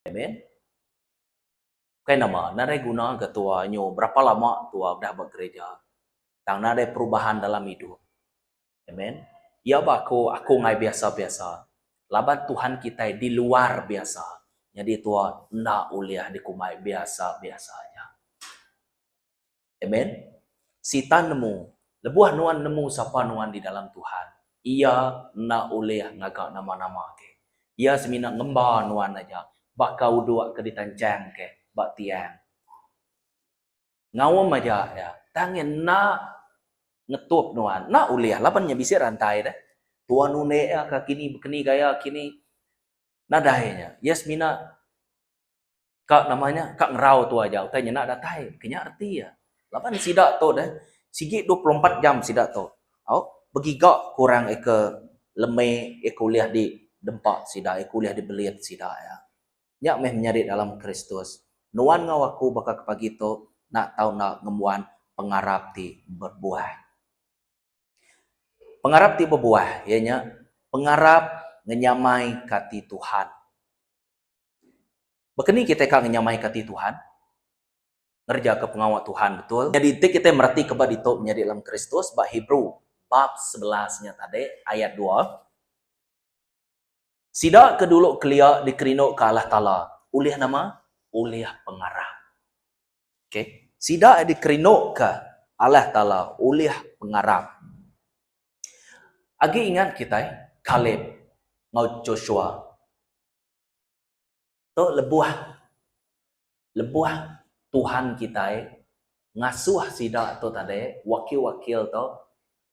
Amen. Bukai nama, nadai guna ke tua nyu berapa lama tua udah ba gereja. Tang nadai perubahan dalam idup. Amen. Iya ba aku, aku ngai biasa-biasa. Laban Tuhan kitai di luar biasa. Nyadi tua enda ulih dikumbai biasa-biasa aja. Amen. Sitan nemu, lebuh nuan nemu sapa nuan di dalam Tuhan, iya enda ulih ngaga nama-nama ke. Iya semina ngemba nuan aja baka uduk ke ditanchang ke ba tiang. Ngaum aja iya, tang iya enda ngetup nuan. Enda ulih laban iya bisi rantai deh. Tuan undik iya ka kini bekeni gaya kini. Nadai nya. Iya semina Ka nama nya, ka ngerau tu aja utai nyenda datai. Kinya reti iya. Laban sida tu deh, sigi dua puluh empat jam sida tu, au, begiga ke orang iya ke leme, iya ke ulih didempa sida, iya ke ulih dibelit sida iya. Nya meh menyadi dalam Kristus. Nuan enggau aku baka ke pagi tu enda tau enda ngembuan pengarap ti bebuah. Pengarap ti bebuah iya nya pengarap ngenyamaika ati Tuhan. Baka ni kitai ka ngenyamaika ati Tuhan? Ngerejaka pengawa Tuhan betul. Nyadi enti kitai meratika ba ditu menyadi dalam Kristus ba Hebrew bab sebelas nya tadi ayat dua, Sida ke dulu kelia dikerinduka Allah Taala. Ulih nama? Ulih pengarap. Okay. Sida dikerinduka Allah Taala ulih pengarap. Agi ingat kitai Kaleb enggau Joshua. Tu lebuh lebuh Tuhan kitai ngasuh sida tu tadi wakil-wakil tu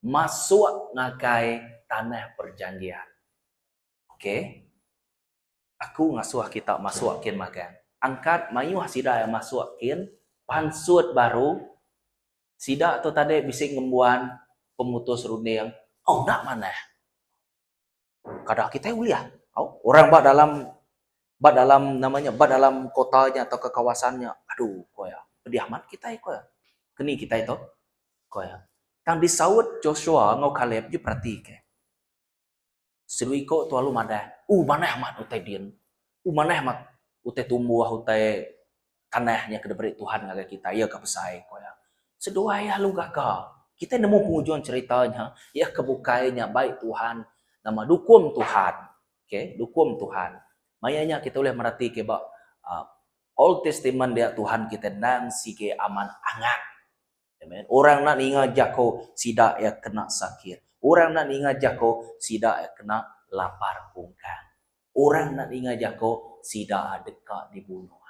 masuk ngagai tanah perjanjian. Okay. Aku ngasuh kita masuk kin magang. Angkat mayuh sida iya masuk kin pansut baru. Sida tu tadi bisi ngembuan pemutus runding. Au enda manah. Kada kitai ulih. Au orang ba dalam ba dalam nama nya ba dalam kota nya tauka kawasan nya adu ku iya. Pedih amat kitai ku iya. Keni kitai tu? Ku iya. Tang disaut Joshua enggau Kaleb ti beratika. Seruiko tu alu madah, Uh manah amat utai din. Uh manah amat utai tumbuh, utai tanah nya ke diberi Tuhan ngagai kitai, iya ka besai, ku iya. Seduai iya alu gaga. Kitai nemu pengujung cherita nya, iya ke bukai nya bai Tuhan nama dukum Tuhan. Okay, dukum Tuhan. Maya nya kitai ulih merati ke ba uhh Old Testament dia Tuhan kitai endang sigi amat angat. Amen. Orang enda ninga jako sida iya kena sakit. Orang enda ninga jako sida iya kena lapar pungkang. Orang enda ninga jako sida deka dibunuh.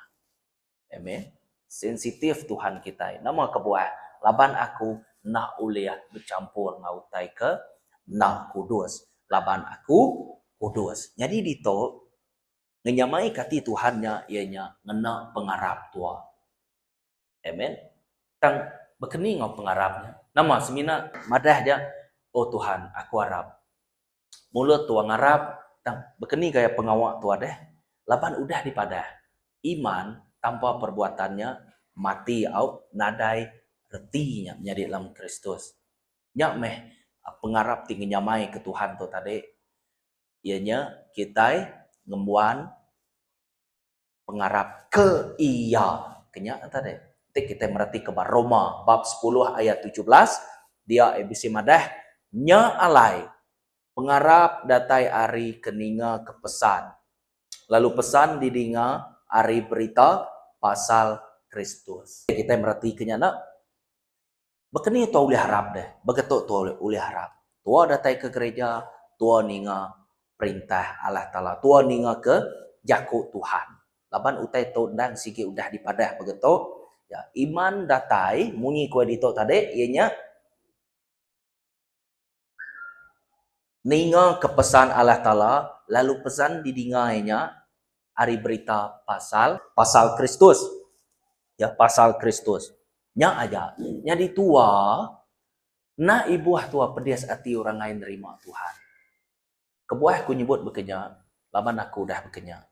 Amen. Sensitif Tuhan kitai. Nama kebuah? Laban aku enda ulih bechampur enggau utai ke enda kudus. Laban aku kudus. Nyadi ditu, ngenyamaika ati Tuhan nya iya nya ngena pengarap tua. Amen. Tang bekeni enggau pengarap nya. Nama semina madah aja oh Tuhan aku arap. Mulut tua ngarap tang bekeni gaya pengawa tua deh laban udah dipadah iman tanpa perbuatan nya mati au nadai reti nya menyadi dalam Kristus. Nya meh pengarap ti ngenyamai ke Tuhan tu tadi iya nya kitai ngembuan. pengarap ke iya. Ke nya enta deh. Enti kitai meratika ba Roma bab sepuluh ayat tujuh belas, dia iya bisi madah, Nya alai, pengarap datai ari ke ninga ke pesan, lalu pesan didinga ari berita pasal Kristus. Kitai meratika nya enda? Baka ni tua ulih arap deh? Baka tu tua ulih arap. Tua datai ke gereja, tua ninga perintah Allah Taala, tua ninga ke jaku Tuhan. Laban utai tu endang sigi udah dipadah baka tu, ya, iman datai munyi ku iya ditu tadi iya nya. Ningaka pesan Allah Taala lalu pesan didinga iya nya ari berita pasal. Pasal Kristus. Ya, pasal Kristus. Nya aja. Nyadi tua, enda ibuh tua pedis ati orang ai nerima Tuhan. Kebuah ku nyebut bekenya laban aku udah bekenya.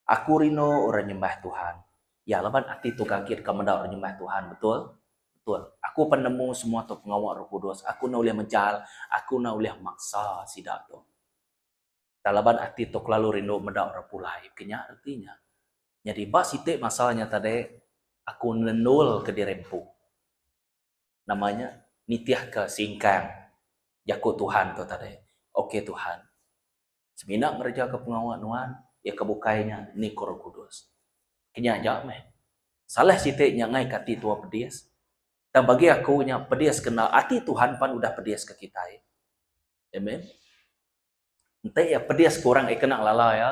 Aku rindu orang nyembah Tuhan. Ya, laban ati tu gagit ka meda orang nyembah Tuhan, betul? Betul. Aku apai nemu semua tu pengawa Roh Kudus. Aku enda ulih mejal, aku enda ulih maksa sida tu. Tang laban ati tu kelalu rindu meda orang pulai, bekenya reti nya. Nyadi ba siti masa nya tadi, aku nendulka diri empu. nama nya nitihka singkang jaku Tuhan tu tadi. Ok Tuhan, semina ngerejaka pengawa Nuan, iya ke bukai nya ni ku Roh Kudus. Kenya aja meh. Salah siti nya ngaika ati tuo pedis. Tang bagi aku nya pedis kena ati Tuhan pan udah pedis ke kitai. Amen. Enti iya pedis ke orang ke kena ngelala iya,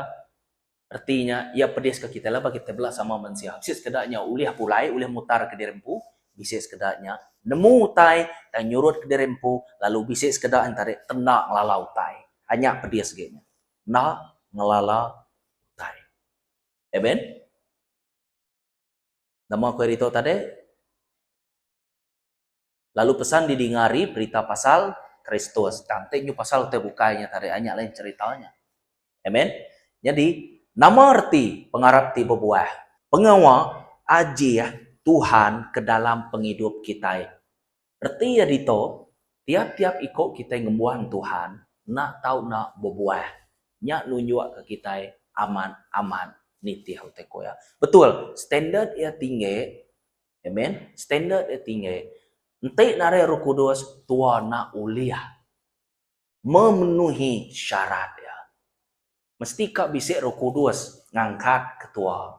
reti nya iya pedis ke kitai laban kitai bela sama mensia. Bisi sekeda nya ulih pulai, ulih mutar ke diri empu, bisi sekeda nya nemu utai tang nyurut ke diri empu lalu bisi sekeda nya tadi tenda ngelala utai. A nya pedis ge nya. Enda ngelala utai. Amen. Nama ku ari ditu tadi? lalu pesan di dinga ari berita pasal Kristus. Tang ti nyu pasal utai bukai nya tadi nya lain cerita nya. Amen. Nyadi nama reti pengarap ti bebuah? Pengawa ajih Tuhan ke dalam pengidup kitai. Reti iya ditu, tiap-tiap iko kitai ngembuan Tuhan enda tau enda bebuah. Nya nunjukka kitai amat-amat nitih utai ko iya. Betul, standard iya tinggi Amen. Standard iya tinggi. Enti narai Roh Kudus, tua enda ulih memenuhi syarat iya. Mesti ka bisi Roh Kudus ngangkat ke tua.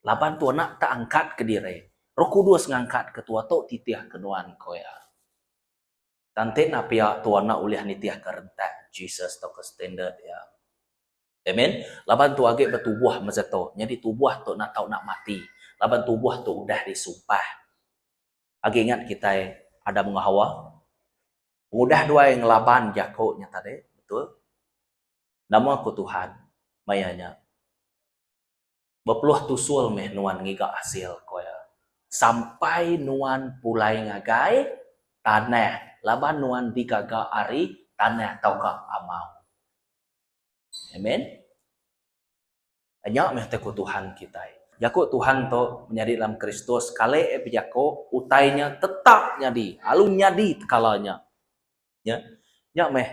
Laban tua enda tak angkat ke diri, Roh Kudus ngangkat ke tua tu titih ke nuan, ko iya. Kante nah pia tu anak ulih nitihka rentak Jesus tauka standard iya. Amen. Laban tu agi betubuh masa tu. Nyadi tubuh tu nak tau nak mati. Laban tubuh tu udah disumpah. Agi ingat kitai Adam enggau Hawa? Pengudah duai ngelaban jaku nya tadi, betul? Nama ku Tuhan maya nya? Bepeluh tusul meh nuan ngiga asil, ku iya. Sampai nuan pulai ngagai tanah laban nuan digaga ari tanah tauka amau. Amen. Nya meh utai ku Tuhan kitai. Jaku Tuhan tu menyadi dalam Kristus kale bejaku utai nya tetap nyadi lalu nyadi tekala nya. Nya nya meh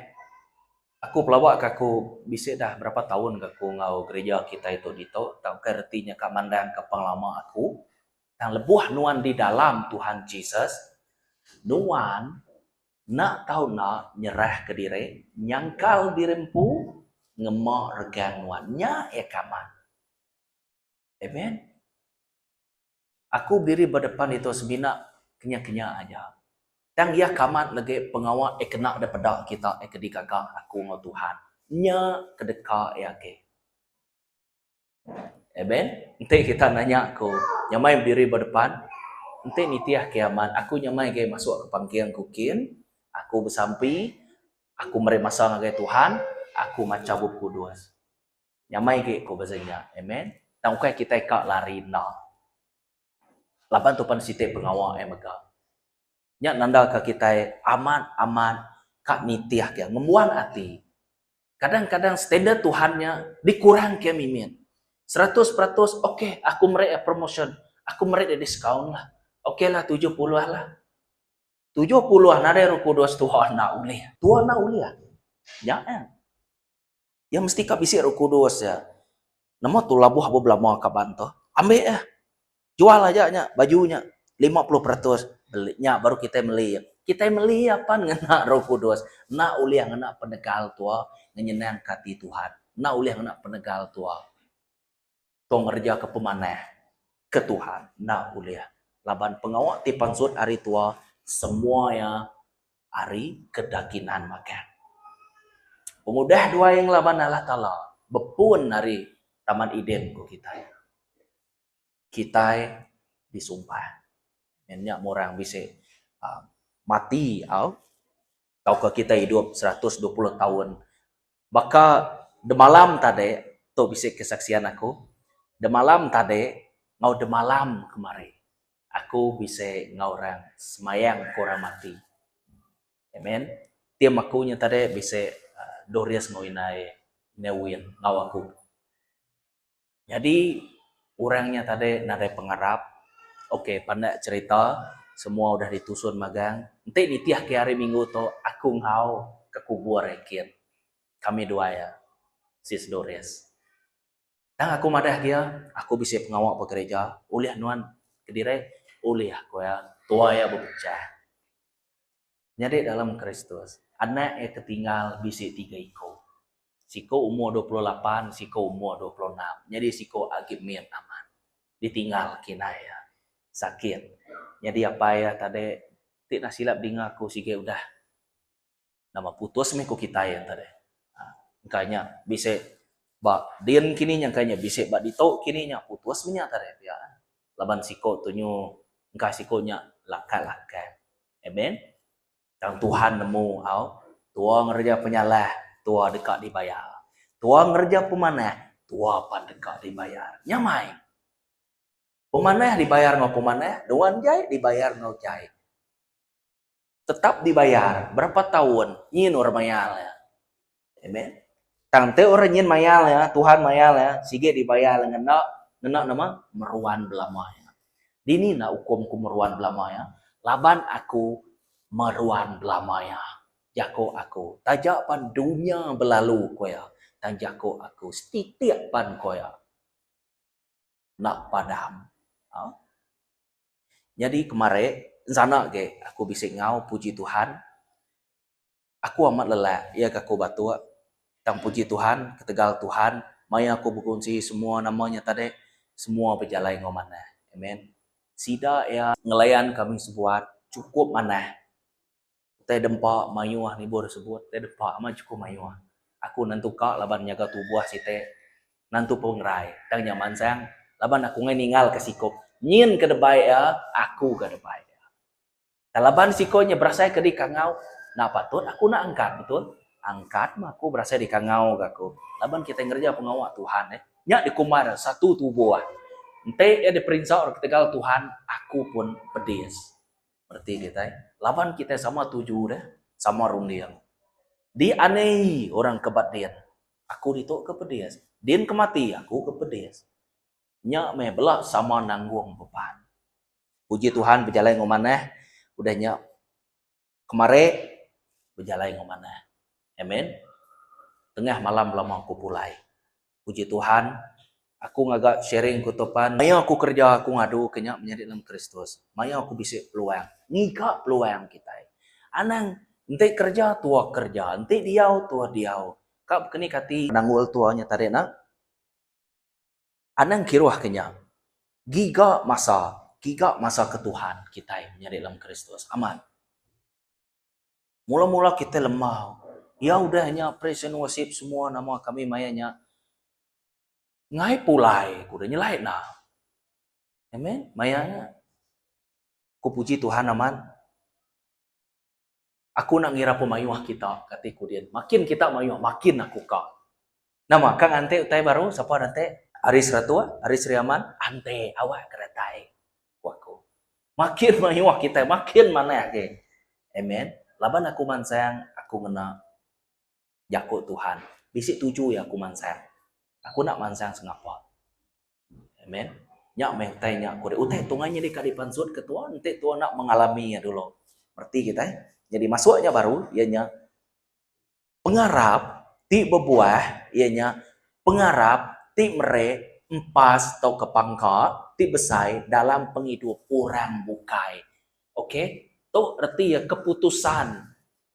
aku pelaba ke aku bisi dah berapa taun ke aku enggau gereja kitai tu ditu tang ukai reti nya ka mandang ke pengelama aku tang lebuh nuan di dalam Tuhan Jesus nuan enda tau enda nyerah ke diri nyangkal diri empu ngema regang nuan nya iya ka amat. Amen. Aku berdiri ba depan ditu semina kenyah-kenyah aja. Tang iya kamat legi pengawa iya kena depeda kita iya ke digaga aku enggau Tuhan. Nya ke deka iya agi. Amen. Enti kita nanya aku nyamai berdiri ba depan, enti nitih ke amat, aku nyamai agi masuk ke pangking ku kin, aku besampi, aku meri masa ngagai Tuhan, aku macha Bup Kudus. Nyamai agi ku pasal nya. Amen. Tang ukai kitai ka lari enda. Laban tu pan siti pengawa eh mega. Nya nandaka kitai amat amat ka nitih ke ngembuan ati. Kadang kadang standard Tuhan nya dikurang ke mimit. Seratus peratus okay aku meri iya promotion. Aku meri iya discount lah. Okay lah tujuh puluh lah. Tujuh puluh nadai roh kudus tuha enda ulih. Tuha enda ulih. Nya eh. Iya mesti ka bisi Roh Kudus iya. Nama tu labuh ba belama kaban tu? Ambi iya. Jual aja nya baju nya lima puluh peratus beli nya baru kitai meli iya. Kitai meli iya pan ngena Roh Kudus. Enda ulih ngena penegal tua ngenyenangka ati Tuhan. Enda ulih ngena penegal tua. tau ngerejaka pemanah ke Tuhan enda ulih laban pengawa ti pansut hari tua semua iya hari ke dakinan makan. Pengudah duai ngelaban Allah Taala bepun ari Taman Eden ku kitai. Kitai disumpah. Nyadi nya murang bisi aaa mati au. tauka kitai idup seratus dua puluh taun. Baka demalam tadi, tu bisi kesaksian aku, demalam tadi enggau demalam kemari aku bisi enggau orang semayang ke orang mati. Amen. Tim aku nya tadi bisi Doris enggau indai Newin enggau aku. Nyadi orang nya tadi nadai pengarap. Ok pandak cerita semua udah ditusun magang. Enti nitih ke hari minggu tu aku enggau ke kubur Ekin. Kami dua iya. Sis Doris. Tang aku madah ke iya aku bisi pengawa ba gereja. Ulih nuan kediri? Ulih ku iya. Tuai iya bepechah. Nyadi dalam Kristus, anak iya ke tinggal bisi tiga iku. Siku umur dua puluh lapan, siku umur dua puluh enam, nyadi siku agi mit amat. Ditinggal kinak iya. Sakit. Nyadi apai iya tadi ti nah silap dinga aku sigi udah. Nama putus mih ku kitai iya tadi. Engka nya bisi ba din kini nya, engka nya bisi ba ditu kini nya, putus mih nya tadi pia. Laban siku tunyu engka siku nya lakat-lakat. Amen. Tang Tuhan nemu au. Tua ngereja penyalah, tua deka dibayar. Tua ngereja pemanah, tua pan deka dibayar. Nya mai. Pemanah dibayar enggau pemanah, nuan jai dibayar enggau jai. Tetap dibayar berapa taun nyin orang mayar. Amen. Tang enti orang nyin mayal iya, Tuhan mayal iya, sigi dibayar iya ngena, ngena nama? Meruan belama iya. Dini enda ukum aku meruan belama iya? Laban aku meruan belama iya. Jaku aku, taja pan dunya belalu, ku iya, tang jaku aku setitik pan, ku iya, enda padam. Au. Nyadi kemari, ensana agi aku bisi enggau, puji Tuhan, Aku amat lelak iya ga ku Batuk. Tang puji Tuhan ketegal Tuhan maya aku bekunsi semua nama nya tadi semua bejalai enggau manah. Amen. Sida iya ngelayan kami sebuat chukup manah. Utai dempa mayuh nibu da sebut utai dempa amat chukup mayuh. Aku nentu ka laban nyaga tubuh siti nentu pengerai tang nya mansang laban aku enggai ninggal ka sikup nyin ke debai iya aku ga debai iya. Tang laban siko nya berasai ke dikangau enda patut aku enda angkat betul. Angkat meh aku berasai dikangau ga aku laban kitai ngereja pengawa Tuhan eh. Nya dikumbai nya satu tubuh. Enti iya diperinsa orang ketegal Tuhan aku pun pedis. Bereti kitai laban kitai sama tuju deh, sama runding. Dianei orang ke ba din aku ditu ke pedis. Din ke mati aku ke pedis. Nya meh bela sama nanggung beban. Puji Tuhan bejalai enggau manah udah nya kemari bejalai enggau manah. Amen. Tengah malam belama aku pulai. Puji Tuhan aku ngaga sharing ku tu pan maya aku kereja aku ngadu ke nya menyadi dalam Kristus. Maya aku bisi peluang ngiga peluang kitai. Anang enti kereja tua kereja enti diau tua diau ka bekenik ati. Penanggul tua nya tadi nya. Anang kiruh ke nya, giga masa, giga masa ke Tuhan kitai menyadi dalam Kristus. Amat. Mula-mula kitai lembau, Ya udah nya praise and worship semua nama kami maya nya. Ngai pulai ku udah nyelai enda. Amen. Maya nya. Ku puji Tuhan amat. Aku enda ngira pun mayuh kita, kati ku din. Makin kita mayuh, makin aku ka. Nama, ka nganti utai baru? Sapa nanti? Ari Seratuk, ari Sri Aman? Anti, awak ke datai, ku aku. Makin mayuh kitai, makin manah agi. Amen. Laban aku mansang, aku ngena. Jaku Tuhan. Bisi tuju iya aku mansang. Aku enda mansang sengapa. Amen. Nya meh utai nya aku ri. Utai tunga nyadi kadi pansut ke tua enti tua enda mengalami iya dulu. Reti kitai. Nyadi masuk nya baru iya nya pengarap ti bebuah iya nya pengarap ti meri empas tauka pangka ti besai dalam pengidup orang bukai. Okay. Tu reti iya keputusan.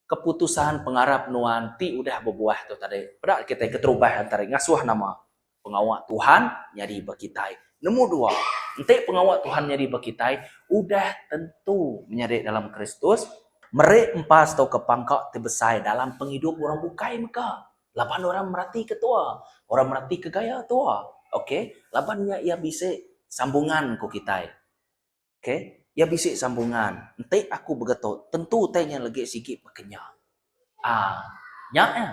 Keputusan pengarap nuan ti udah bebuah tu tadi, peda kitai keterubah entara ngasuh nama pengawa Tuhan nyadi ba kitai. Nemu dua, enti pengawa Tuhan nyadi ba kitai, udah tentu menyadi dalam Kristus, meri empas tauka pangka ti besai dalam pengidup orang bukai mega laban orang meratika tua, orang meratika gaya tua, ok, laban nya iya bisi sambungan ku kitai. Ke, iya bisi sambungan, enti aku begetok, tentu utai nya legi sigi bekenya. Aa. Nya iya.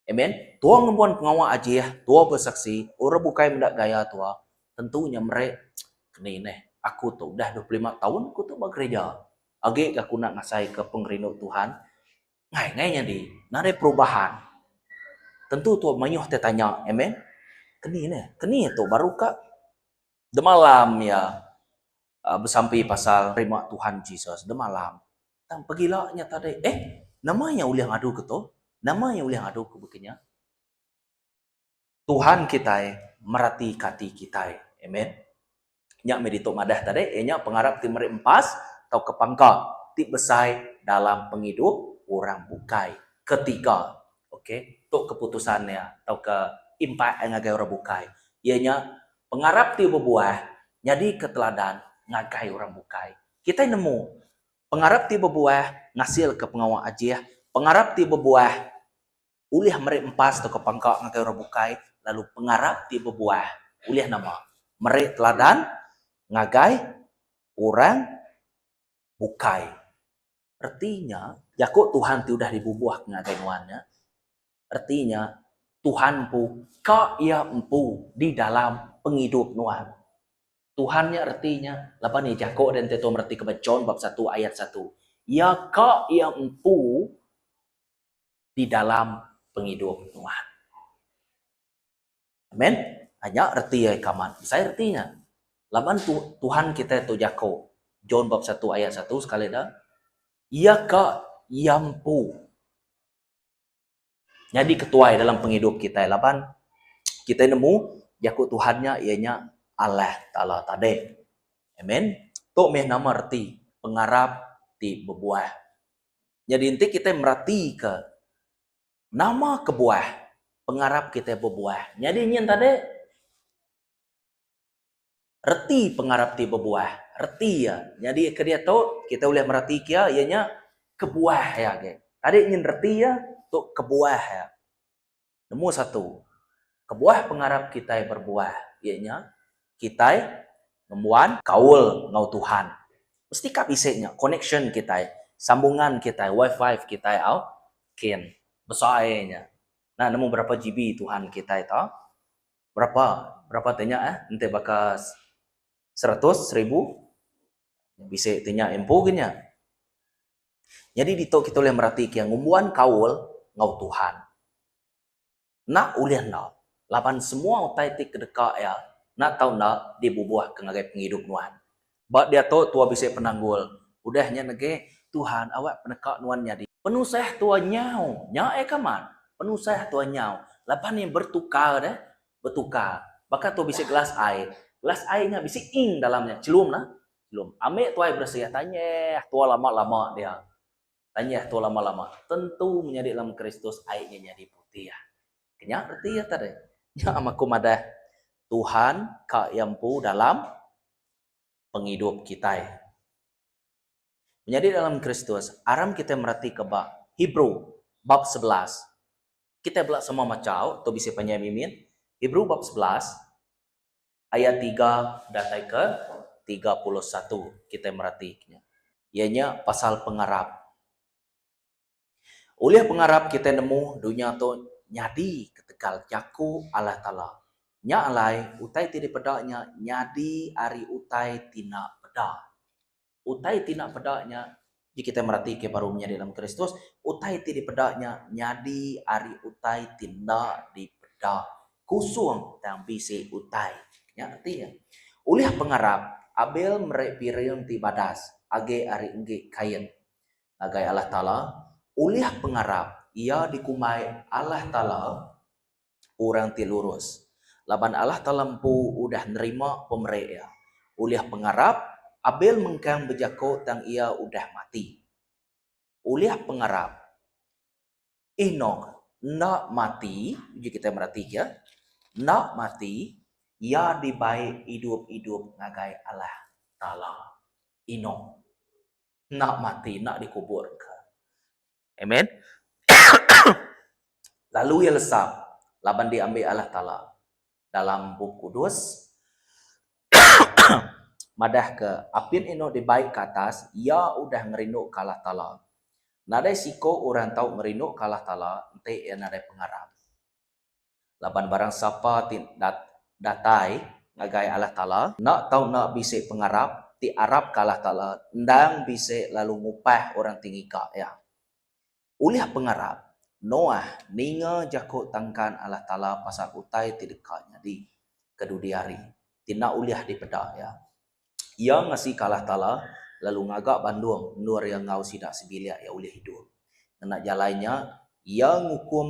Amen. Tua ngembuan pengawa ajih, tua besaksi, orang bukai meda gaya tua, tentu nya meri keni neh. Aku tu udah dua puluh lima taun aku tu ba gerija, agi ga aku enda ngasaika pengerindu Tuhan ngai ngai nyadi. Enda ada perubahan. Tentu tua mayuh ti tanya. Amen. Keni neh. Keni tu baru ka. Demalam iya besampi pasal nerima Tuhan Jesus. Demalam. Tang pegila nya tadi. Eh, nama iya ulih ngadu ke tu? Nama iya ulih ngadu ke baka nya? Tuhan kitai meratika ati kitai. Amen. Nya meh ditu madah tadi, iya nya pengarap ti meri empas tauka pangka ti besai dalam pengidup orang bukai ketika, okay, tu keputusan iya tauka impact iya ngagai orang bukai. Iya nya Pengarap ti bebuah nyadika teladan ngagai orang bukai. Kitai nemu, pengarap ti bebuah ngasilka pengawa ajih. Pengarap ti bebuah ulih meri empas tauka pangka ngagai orang bukai, lalu pengarap ti bebuah ulih nama? Meri teladan ngagai orang bukai. Reti nya, jaku Tuhan ti udah dibubuhka ngagai nuan nya, reti nya, Tuhan empu ka iya empu di dalam pengidup nuan. Tuhan nya reti nya, laban iya jaku dia enti tuan meretika ba John bab satu ayat satu, iya ka iya empu di dalam pengidup nuan. Amen. Ah nya reti ai ke amat besai reti nya. Laban tu Tuhan kitai tu jako John bab satu ayat satu sekali da Iya ka Iya empu nyadi ketuai dalam pengidup kitai laban kitai nemu jako Tuhan nya iya nya Allah Taala tadi. Amen. Tu meh nama reti pengarap ti bebuah. Nyadi enti kitai merati ke Nama kebuah pengarap kitai bebuah? Nyadi nyin tadi reti pengarap ti bebuah. Reti iya nyadi ke diatu kitai ulih mereti ke iya nya kebuah iya agi. Tadi nyin reti iya tu kebuah iya. Nombor satu kebuah pengarap kitai berbuah iya nya kitai ngembuan kaul enggau Tuhan. Mesti ka bisi nya connection kitai, sambungan kitai, wifi kitai au Ken. Besai nya. Nah nemu berapa GB Tuhan kitai to. Berapa. Berapa ti nya eh. Enti baka seratus, seribu. Bisi ti nya empu gin nya. Nyadi ditu kita ulih merati ke ngumbuan kaul enggau Tuhan. Enda ulih enda, laban semua utai ti kedeka iya enda tau enda dibubuhka ngagai pengidup nuan. Ba diatu tua bisi penanggul, udah nya negi Tuhan awak peneka nuan nyadi. Penusah tua nyau, nya ai ke amat, penusah tua nyau, laban iya bertukar deh, bertukar. Baka tua bisi gelas ai, gelas ai nya bisi ink dalam nya, chelum nah, chelum. Ambi tua ai beresih, tanyah tua lama-lama dia. Tanya tu lama-lama tentu menyadi lem Kristus ai nya nyadi putih. Kenya reti iya tadi. Nya ama ku madah Tuhan ka iya empu dalam pengidup kitai. Menyadi dalam Kristus, aram kitai meratika ba Hebrew bab sebelas. Kitai bela sama machau tu bisi panjai mimin. Hebrew bab sebelas. Ayat tiga datai ke tiga puluh satu kitai meratika nya, iya nya pasal pengarap. Ulih pengarap kitai nemu dunya tu nyadi ketegal jaku Allah Taala. Nya alai utai ti dipeda nya nyadi ari utai ti enda peda. Utai ti enda peda nya, Ji kitai meratika baru menyadi dalam Kristus, utai ti dipeda nya nyadi ari utai ti enda dipeda. Kusung tang bisi utai. Nya reti nya. Ulih pengarap, Abel meri piring ti badas agi ari enggi Kain. Ngagai Allah Taala, ulih pengarap, iya dikumbai Allah Taala. orang ti lurus, laban Allah Taala empu udah nerima pemeri iya. Ulih pengarap, Abel mengkang bejako tang iya udah mati. Ulih pengarap, Enok enda mati, uji kitai meratika, enda mati, iya dibai idup-idup ngagai Allah Taala. Enok enda mati, enda dikubur ka. Amen. Lalu iya lesa laban diambi Allah Taala. Dalam Bup Kudus madahka, Apin inu dibai ke atas, iya udah ngerinduka Allah Taala. Nadai siku orang tau ngerinduka Allah Taala enti iya nadai pengarap. Laban barang sapa ti dat datai ngagai Allah Taala enda tau enda bisi pengarap, ti arapka Allah Taala endang bisi lalu ngupah orang ti ngika iya. Ulih pengarap, Noah ninga jaku tangkan Allah Taala pasal utai ti deka nyadi kedudi hari ti enda ulih dipeda iya. Iya ngasi kalah tala lalu ngaga bandung endur iya enggau sida sebilik iya ulih idup. Ngena jalai nya, iya ngukum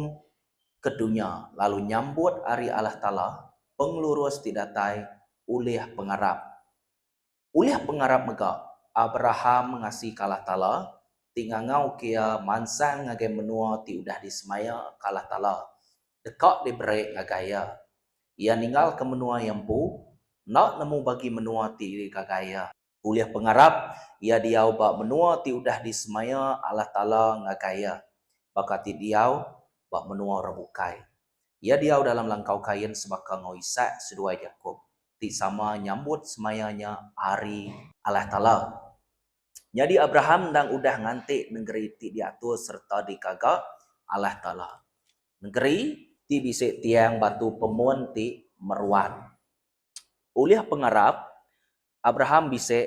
ke dunya lalu nyambut ari Allah Taala pengelurus ti datai ulih pengarap. Ulih pengarap mega, Abraham ngasi kalah tala ti ngangauka iya mansang ngagai menua ti udah disemaya kalah tala deka diberi ngagai iya. Iya ninggalka menua iya empu, enda nemu bagi menua ti digaga iya. Ulih pengarap, iya diau ba menua ti udah disemaya Allah Taala ngagai iya, baka ti diau ba menua orang bukai. Iya diau dalam langkau kain sebaka enggau Isak seduai Jakop, ti sama nyambut semaya nya Hari Allah Taala. Nyadi Abraham endang udah nganti nengeri ti diatur sereta dikaga Allah Taala. Nengeri ti bisi tiang batu pemun ti meruan. Ulih pengarap, Abraham bisi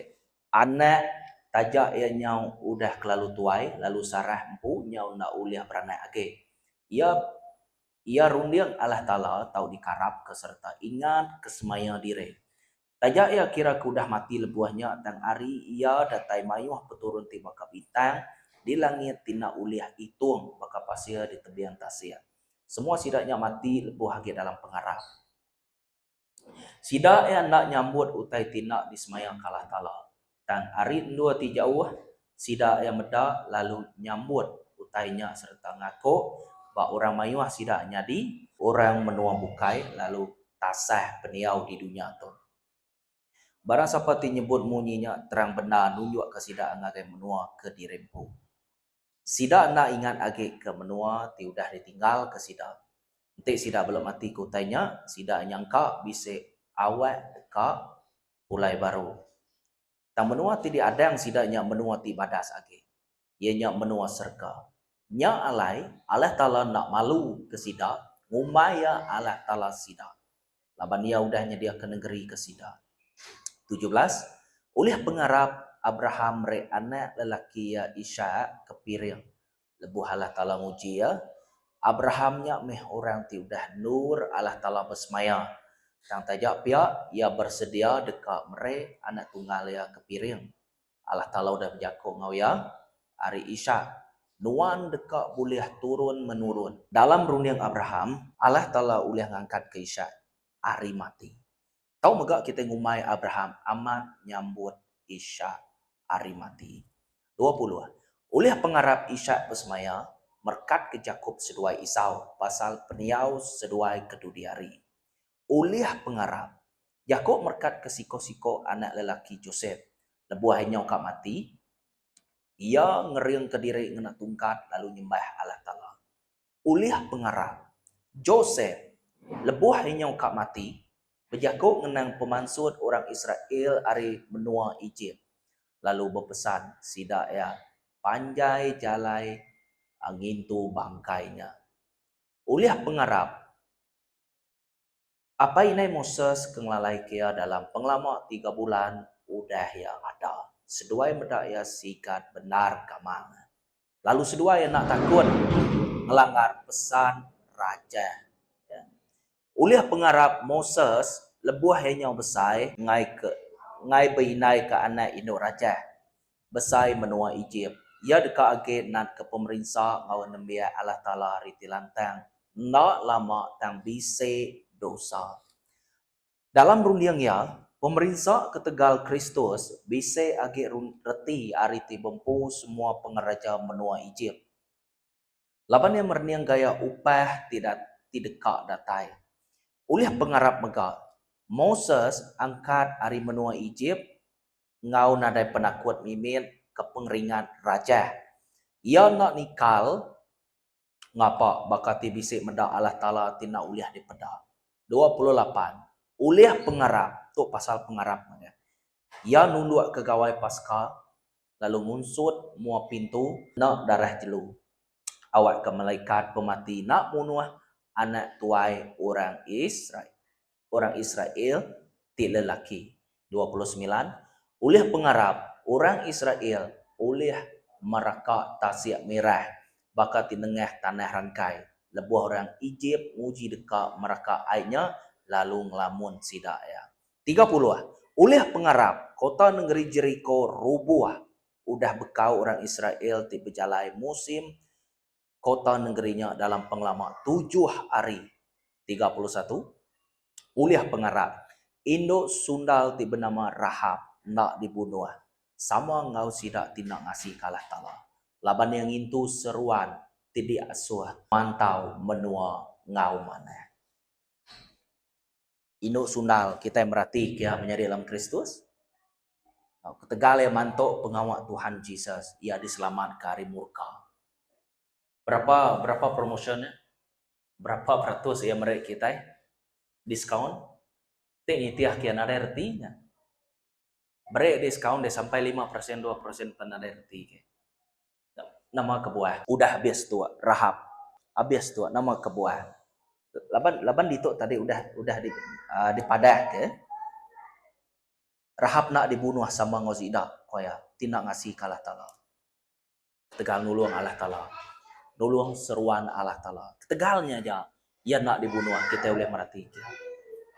anak taja iya nyau udah kelalu tuai lalu Sarah empu nyau enda ulih beranak agi. Iya iya runding Allah Taala tau dikarapka sereta ingatka semaya diri. Taja iya kira ke udah mati lebuh nya tang ari iya datai mayuh peturun ti baka bintang di langit ti enda ulih itung baka pasir di tebing tasik. Semua sida nya mati lebuh agi dalam pengarap. Sida iya enda nyambut utai ti enda disemaya ke Allah Taala. Tang ari endur ti jauh, sida iya meda lalu nyambut utai nya sereta ngaku ba orang mayuh sida nyadi orang menua bukai lalu tasah pendiau di dunya tu. Barang sapa ti nyebut munyi nya terang bendar nunjukka sida ngagai menua ke dirempu. Sida enda ingat agi ke menua ti udah ditinggalka sida. Enti sida bela matika utai nya, sida nyangka bisi awak deka. pulai baru. Tang menua ti diadang sida nya menua ti badas agi, iya nya menua serega. Nya alai Allah Taala enda malu ke sida ngumbai Iya Allah Taala sida, laban Iya udah nyediaka nengeri ke sida. Tujuh belas, Ulih pengarap Abraham meri anak lelaki iya Ishak ke piring Lebuh Allah Taala nguji iya, Abraham nya meh orang ti udah endur Allah Taala besemaya. Tang taja pia, iya besedia deka meri anak tunggal iya ke piring. Allah Taala udah bejako enggau iya, Ari Ishak, nuan deka bulih turun menurun. Dalam runding Abraham, Allah Taala ulih ngangkatka Ishak ari mati. Tau mega kitai ngumbai Abraham amat nyambut Ishak ari mati. Dua puluh, Ulih pengarap Ishak besemaya merekatka Jakop seduai Isau pasal pendiau seduai ke dudi hari. Ulih pengarap, Jakop merekatka siko-siko anak lelaki Josep. Lebuh iya nyau ka mati, iya ngeringka diri ngena tungkat lalu nyembah Allah Taala. Ulih pengarap, Josep, lebuh inyau ka mati, bejaku ngenang pemansut orang Israel ari menua Ejip, lalu bepesan sida iya panjai jalai ngintu bangkai nya. Ulih pengarap, Apai indai Moses ke ngelalaika iya dalam pengelama tiga bulan udah iya ada, seduai meda iya sigat bendar kamang, lalu seduai enda takut ngelanggar pesan raja. Ulih pengarap Moses lebuh iya nyau besai ngaika ngagai indai ke anak indu raja. Besai menua Ejip. Iya deka agi natka pemerinsa enggau nembiak Allah Taala ari ti lantang enda lama tang bisi dosa. Dalam runding iya, pemerinsa ketegal Kristus bisi agi reti ari ti bempu semua pengereja menua Ejip. Laban iya merening gaya upah ti ti deka datai. Ulih pengarap mega, Moses angkat ari menua Ejip enggau nadai penakut mimit ke pengeringat rajah. Iya enda nikal ngapa baka ti bisi meda Allah Taala ti enda ulih dipeda. Dua puluh lapan, ulih pengarap, tu pasal pengarap mega. Iya nundukka gawai Paska lalu ngunsut mua pintu enda darah jelu awakka malaikat pemati enda munuh anak tuai orang Israel. orang Israel ti lelaki. Dua puluh semilan, Ulih pengarap, orang Israel ulih mereka tasik mirah baka ti nengah tanah rangkai, lebuh orang Ejip nguji deka mereka ai nya lalu ngelamun sida iya. Tiga puluh, Ulih pengarap, kota nengeri Jeriko rubuh udah bekau orang Israel ti bejalai musim kota nengeri nya dalam pengelama tujuh hari, tiga puluh satu, ulih pengarap indu sundal ti benama Rahab enda dibunuh sama enggau sida ti enda ngasika Allah Taala laban iya ngintu seruan ti diasuh mantau menua enggau manah. Indu sundal kitai merati kia menyadi dalam Kristus. Tau ketegal iya mantu pengawa Tuhan Jesus, iya diselamatka ari murka. Berapa berapa promotion nya? Berapa peratus iya meri kitai diskaun? Ti nitih kia nadai reti nya. Meri diskaun deh sampai lima perasen dua perasen pen nadai reti ke. Nama kebuah. Udah habis tu Rahab. Habis tu nama kebuah. Laban laban ditu tadi udah udah di uh, dipadahka Rahab nak dibunuh sama enggau Zida, ko iya, ti nak ngasika Allah Taala. Ketegal nulung Allah Taala. Nulung seruan Allah Taala. Ketegal nya aja iya enda dibunuh, kitai ulih meratika.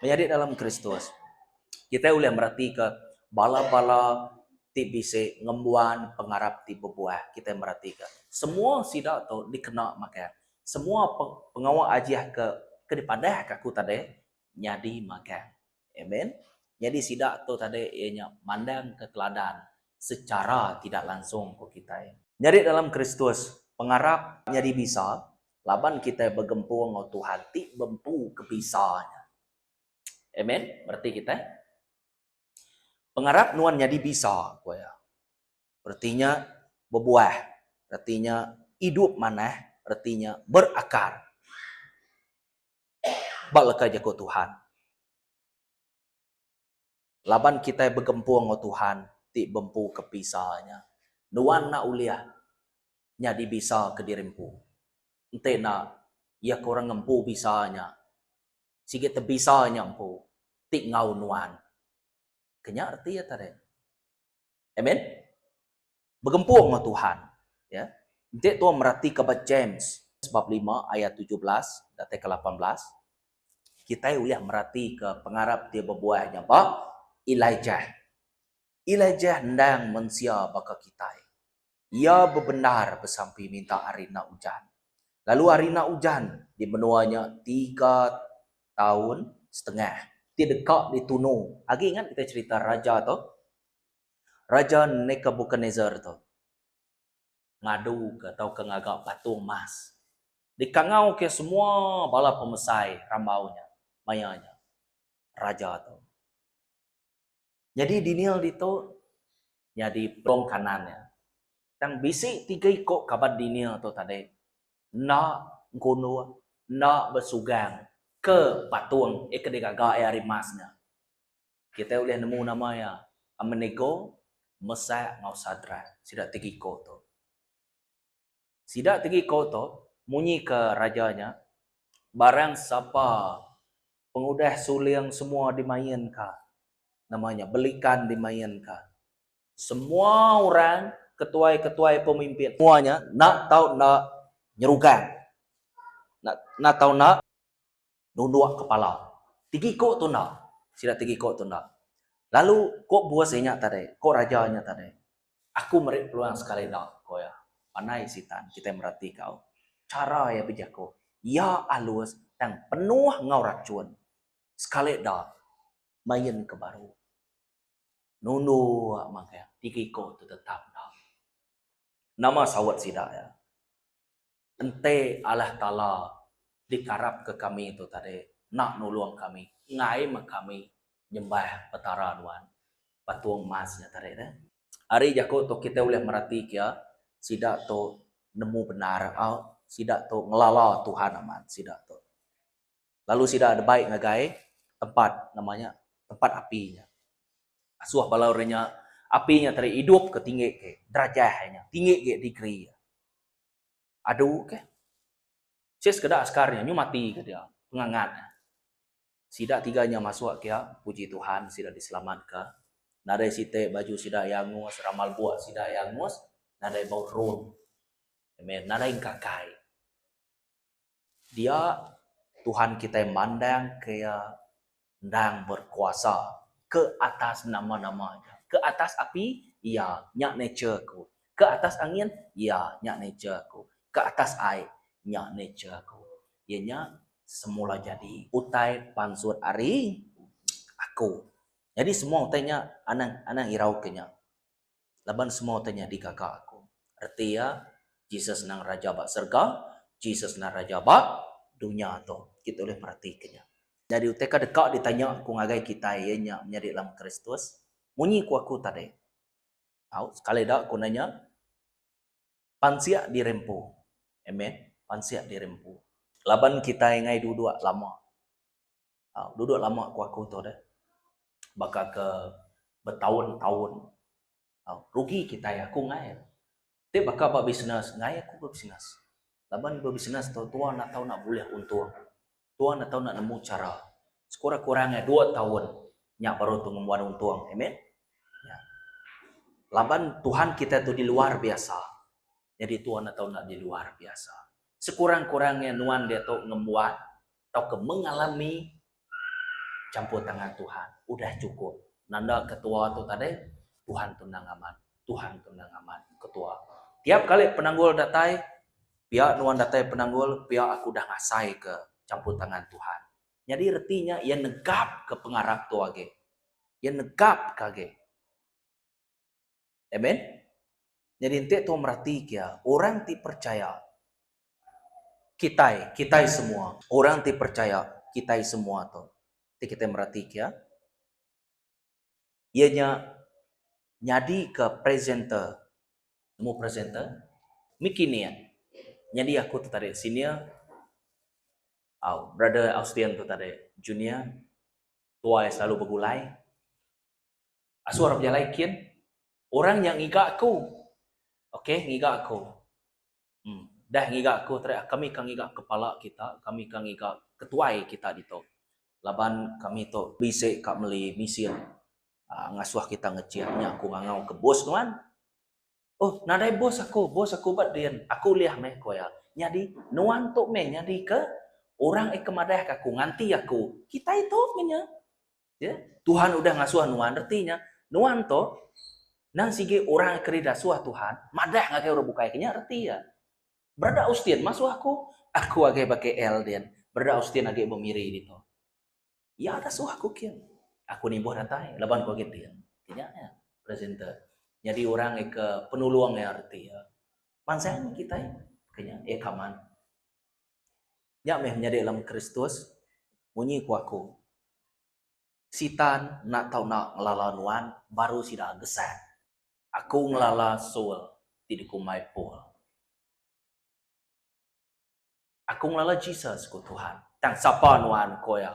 Menyadi dalam Kristus, kitai ulih meratika bala-bala ti bisi ngembuan pengarap ti bebuah. Kitai meratika semua sida tu dikena makai semua pengawa ajih ke ke dipadahka aku tadi nyadi makai. Amen. Nyadi sida tu tadi iya nya mandangka teladan sechara tidak langsung ku kitai. Nyadi dalam Kristus, pengarap nyadi bisa laban kitai begempung enggau Tuhan ti bempu ke bisa nya. Amen. Bereti kitai pengarap nuan nyadi bisa, ku iya. Reti nya bebuah, reti nya idup manah, reti nya berakar. ba leka jaku Tuhan. Laban kitai begempung enggau Tuhan ti bempu ke pisa nya, nuan enda ulih nyadi bisa ke diri empu. Enti enda, iya ke orang ngempu bisa nya, sigi tebisa nya empu ti enggau nuan. Ke nya reti iya tadi. Amen. Begempung enggau Tuhan. Ya. Enti tong meratika ba James bab lima ayat tujuh belas datai ke lapan belas, kitai ulih meratika pengarap ti bebuah nya ba Elijah. Elijah endang mensia baka kitai. Iya bebendar besampi minta ari enda ujan. Lalu ari enda ujan di menua nya tiga taun setengah. Ti deka ditunu. Agi ingat kitai cherita raja tu? Raja Nekabukadnesar tu ngaduka tauka ngaga patung emas dikangauka semua bala pemesai rambau nya. Maya nya, raja tu nyadi dini ditu nyadi pelong kanan iya. Tang bisi tiga iku kaban dini tu tadi enda ngunduh, enda besugang ke patung ke digaga iya ari emas nya. Kitai ulih nemu nama iya, Abednego, Mesak enggau Sadrak, sida tiga iko tu. Sida tiga iko tu munyi ke raja nya, Barang sapa pengudah suling semua dimainka, nama nya belikan dimainka, semua orang ketuai-ketuai pemimpin, semua nya enda tau enda nyerugang, enda tau enda. nunduk kepala. Tegiko tu enda. Sida tegiko tu enda. Lalu ko bos inya tadi, ko raja inya tadi, Aku meri peluang sekali enda, ko iya. Panai Sitan kitai merati kau. Chara iya bejako, iya alus tang penuh enggau rachun. Sekali enda main ke baru. Nunduk magang, tegiko tu tetap enda. Nama saut sida iya? Enti Allah Taala dikarapka kami tu tadi enda nulung kami enggai meh kami nyembah Petara nuan. Patung emas nya tadi deh. Ari jaku tu kitai ulih merati kia sida tu nemu bendar au sida tu ngelala Tuhan amat sida tu. Lalu sida debai ngagai tempat nama nya tempat api nya. Asuh bala orang nya api nya tadi idup ke tinggi agi derajah nya tinggi agi degree nya. Adu ke. Sis keda askar nya nyu mati ke dia. Pengangat. Sida tiga nya masuk ke iya, puji Tuhan sida diselamatka. Nadai siti baju sida iya angus, ramal buk sida iya angus, nadai bau drone. Amen. Nadai engkakai. Dia, Tuhan kitai mandang ke Iya endang berkuasa ke atas nama-nama Iya. Ke atas api, Iya, nya nature aku. Ke atas angin, Iya, nya nature aku. Ke atas ai, nya nature aku. Iya nya semula jadi utai pansut ari Aku. Jadi semua utai nya anang anang irau ke nya. Laban semua utai nya digaga aku. Reti iya, Jesus endang Raja ba serega, Jesus endang Raja ba dunya tu. Kita ulih meratika nya. Nyadi utai ke deka ditanya aku ngagai kitai iya nya menyadi dalam Kristus, munyi ku aku tadi. Au, sekali da aku nanya. Pansik dirempu. Amen. Pansik dirempu. Laban kitai ngai duduk lama. Au, duduk lama ku aku tu deh. Baka ke betaun-taun. Au, rugi kitai aku ngai. Ti baka ba bisnes, ngai aku ba bisnes. Laban ba bisnes tu tua nak tau nak bulih untung. Tuan atau enda nemu chara. Sekurang-kurang iya dua taun nya baru tu ngembuan untung. Amen. Ya. Laban Tuhan kita tu di luar biasa. Jadi tuan atau enda di luar biasa. Sekurang-kurang iya nuan dia tu ngembuan atau ke mengalami campur tangan Tuhan. Udah cukup. Nanda ketua tu tadi, Tuhan tu nang amat. Tuhan tu nang amat ketua. Tiap kali penanggul datai, Pia nuan datai penanggul, pia aku udah ngasaika champur tangan Tuhan. Nyadi reti nya iya negapka pengarap tu agi. Iya negapka agi. Amen. Nyadi enti tau meratika iya, orang ti percaya kitai, kitai semua, orang ti percaya kitai semua tu. Enti kitai meratika iya, iya nya nyadika presenter. Nemu presenter? Miki nia. Nyadi aku tu tadi senior, au brother Austen tu tadi junior, tuai selalu begulai. Asu arap jalai kin, orang nya ngiga aku. Okay, ngiga aku. Hmm. Dah ngiga aku teriak kami ka ngiga kepala kita, kami ka ngiga ketuai kita ditu. Laban kami tu bisi ka meli misin aaa ngasuh kita ngecik nya aku ngangau ke bos nuan. Oh nadai bos aku, bos aku ba din. Aku ulih meh ku iya. Nyadi nuan tu meh nyadi ke orang ika madah ka aku nganti aku. Kitai tu meh nya. Ya, Tuhan udah ngasuh nuan reti nya. Nuan tu nang sigi orang keri dasuh Tuhan, madah ngagai orang bukai kenya reti ya. Berada Austin masuh aku, aku agai ba KL din. Berada Austin agai ba Miri ditu. Ya dasuh aku kin. Aku nimbuh datai laban aku agai tin. Kenya ya, presenter. Jadi orang ke penulung ya reti ya. Mansang kita kenya ya kaman. Nya meh menyadi lem Kristus, munyi ku aku, Sitan enda tau enda ngelala nuan baru sida gesat. Aku ngelala Saul, ti dikumbai Paul. Aku ngelala Jesus, ku Tuhan, tang sapa nuan, ku iya.